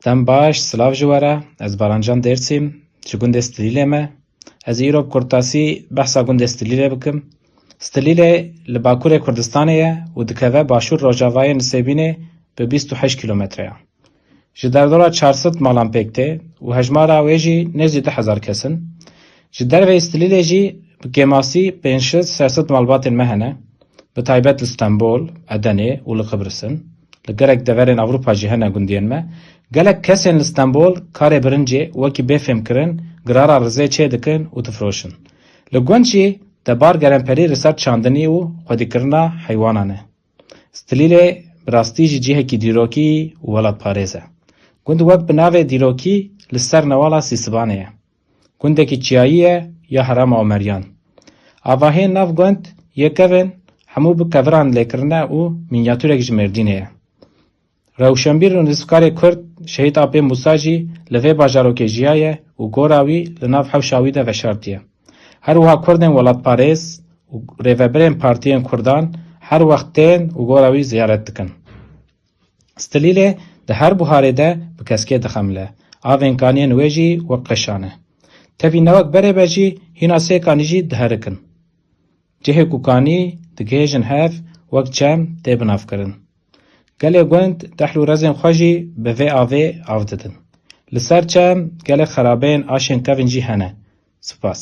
Dem baş, silav ji we re. Ez Barancan Dêrsîm, ji gundê Stilîlê me. Ez ê îro bi kurtasî behsa gundê Stilîlê bikim. Stilîlê li bakurê Kurdistanê ye û dikeve başûr rojavayê Nisêbînê bi bîst û heşt kîlometre ya. Ji derdora çar sed malan pêk tê û hejmara wê jî nêzî du hezar kes in. Ji derveyî Stilîlê jî bi kêmasî pênc şil ser sed malbatên me hene, bi taybet li Stenbol, Edenê û li Qibrisn. Li gelek deverên Ewropa jî hene gundiyên me. Gelek kesên li Stenbol karê birincê wekî bêfêmkirin girara rizê çê dikin û difiroşin. Li gund jî tebar geremperî li ser çandinî û xwedîkirina heywanan e. Stilîlê bi rastî jî cihekî dîrokî û welatparêz e. Gund wek bi navê Dîrokî li ser newala Sîsibanê ye. Gundekî çiyayî ye ya Herêma Omeryan. Avahiyên nav gund yê kevên hemû bi keviran lêkirine û mînyatûrek ji Mêrdînê ye. Rewşenbîr û nivîskarê kurd Şehîd Apê Mûsa jî li vê bajarokê jiyaye û gora wî li nav hewşa wî de veşartiye. Her wiha kurdên welatparêz û rêvebirên partiyên kurdan her wext tên û gora wî ziyaret dikin. Stilîlê di her buharê de bi keskê dixemile. Avên kaniyên wê jî wek qeşan e. Tevî ne wek berê be jî hîna sê kanî jî diherik in. Cihê ku kanî digihêjin hev wek çem tê binavkirin. Gelê gund dehl û rezên xwe jî bi vê avê av didin. Li ser çem gelek xerabeyên aşên kevin jî hene. Sipas.